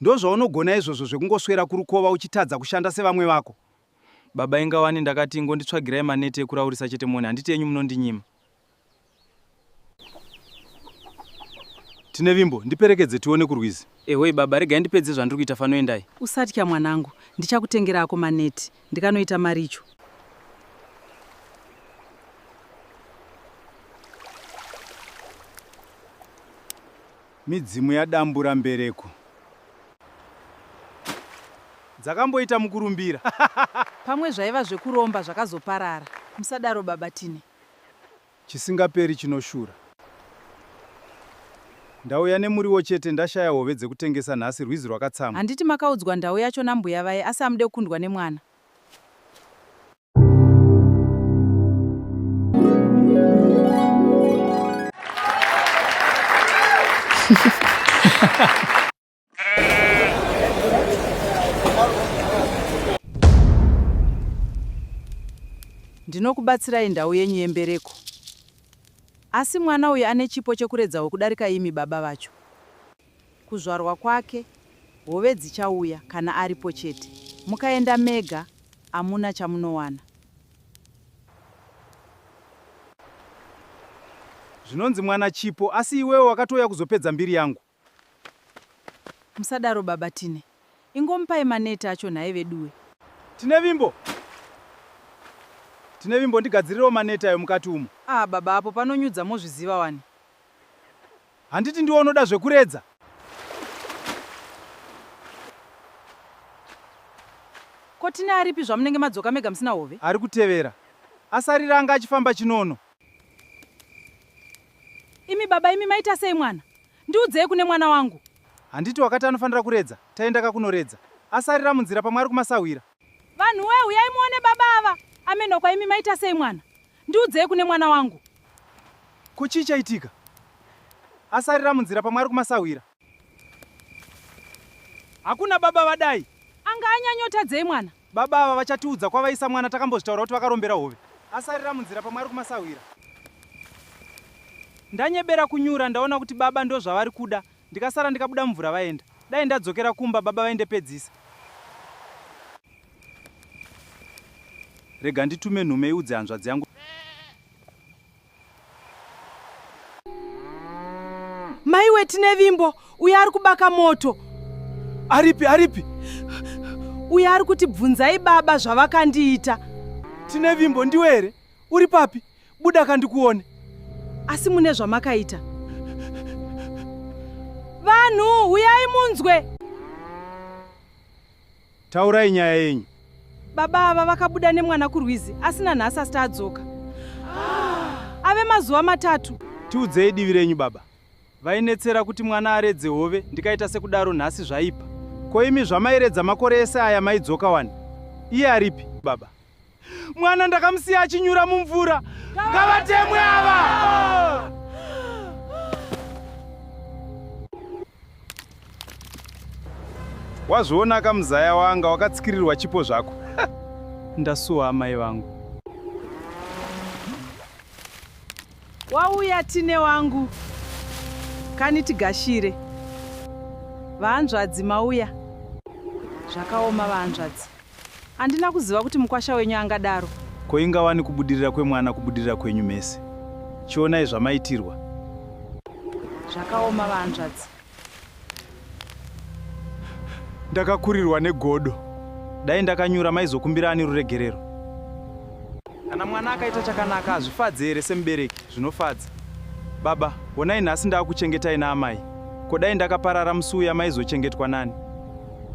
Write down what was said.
Ndozvaunogona izvozvo zvekungoswera kurukova uchitadza kushanda sevamwe vako? Baba inga wani ndakati ingonditsvagirai maneti ekuraurisa chete mone handiti enyu munondinyima. Tinevimbo, ndiperekedze tione kurwizi. Ehoi baba regai ndipedze zvandiri kuita fano endai. Usatya mwanangu ndichakutengera ako maneti ndikanoita maricho. Midzimu yadambura mbereko. Dzakamboita mukurumbira. Pamwe zvaiva zvekuromba zvakazoparara. Musadaro baba Tine. Chisingaperi chinoshura. Ndauya nemuriwo chete ndashaya hove dzekutengesa nhasi rwizi rwakatsamwa. Handiti makaudzwa ndau yacho nambuya vaye asi hamude kukundwa nemwana. ndinokubatsirai ndau yenyu yembereko asi mwana uyu ane chipo chekuredzawo kudarika imi baba vacho Kuzvarwa kwake hove dzichauya kana aripo chete. Mukaenda mega amuna chamunowana. Zvinonzi mwana Chipo asi iwewe wakatouya kuzopedza mbiri yangu. Musadaro baba Tine. Ingomupai maneti acho nhai veduwe. Tinevimbo! Tinevimbo ndigadzirirewo maneti ayo mukati umo. Ah baba apo panonyudza mozviziva wani. Handiti ndiwe unoda zvekuredza? Ko Tine aripi zvamunenge madzoka mega musina hove? Ari kutevera. Asarira anga achifamba chinono. Imi baba imi maita sei mwana? Ndiudzei kune mwana wangu. Handiti wakati anofanira kuredza? Taenda kakunoredza. Asarira munzira pamwe ari kumasahwira. Vanhu we huyai muone baba ava. Ameno kwaimi maita sei mwana? Ndiudzei kune mwana wangu. Ko chii chaitika? Asarira munzira pamwe ari kumasahwira. Hakuna baba vadai. Anga anyanyotadzei mwana? Baba ava vachatiudza kwavaisa mwana takambozvitaura kuti vakarombera hove. Asarira munzira pamwe ari kumasahwira. Ndanyebera kunyura ndaona kuti baba ndozvavari kuda Ndikasara ndikabuda mvura vaenda. Dai ndadzokera kumba baba vaindepedzisa. Rega nditume nhume iudze hanzvadzi yangu. Maiwe tine vimbo uyo ari kubaka moto. Aripi aripi? Uyo ari kuti bvunzai baba zvavakandiita. Tine vimbo ndiwe here? Uri papi? Buda ka ndikuone. Asi mune zvamakaita. Vanhu, huyai munzwe! Taurai nyaya yenyu. Baba ava vakabuda nemwana kurwizi asi nanhasi asita adzoka. Ave mazuva matatu. Tiudzei divi renyu baba. Vainetsera kuti mwana aredze hove ndikaita sekudaro nhasi zvaipa. Ko imi zvamairedza makore ese aya maidzoka wani? Iye aripi baba? mwana ndakamusiya achinyura mumvura ngavatemwe ava wazviona ka muzaya wanga wakatsikirirwa chipo zvako ndasuwa amai vangu wauya tine wangu kani tigashire vahanzvadzi mauya zvakaoma vahanzvadzi Andina kuziva kuti mukwasha wenyu angadaro. Ko ingawani kubudirira kwemwana kubudirira kwenyu mese. Chionai zvamaitirwa. Zvakaoma vahanzvadzi. Ndakakurirwa negodo. Dai ndakanyura maizokumbira ani ruregerero. Kana mwana akaita chakanaka hazvifadze here semubereki zvinofadza. Baba, honai nhasi ndaakuchengetai naamai. Ko dai ndakaparara musi uya maizochengetwa nani?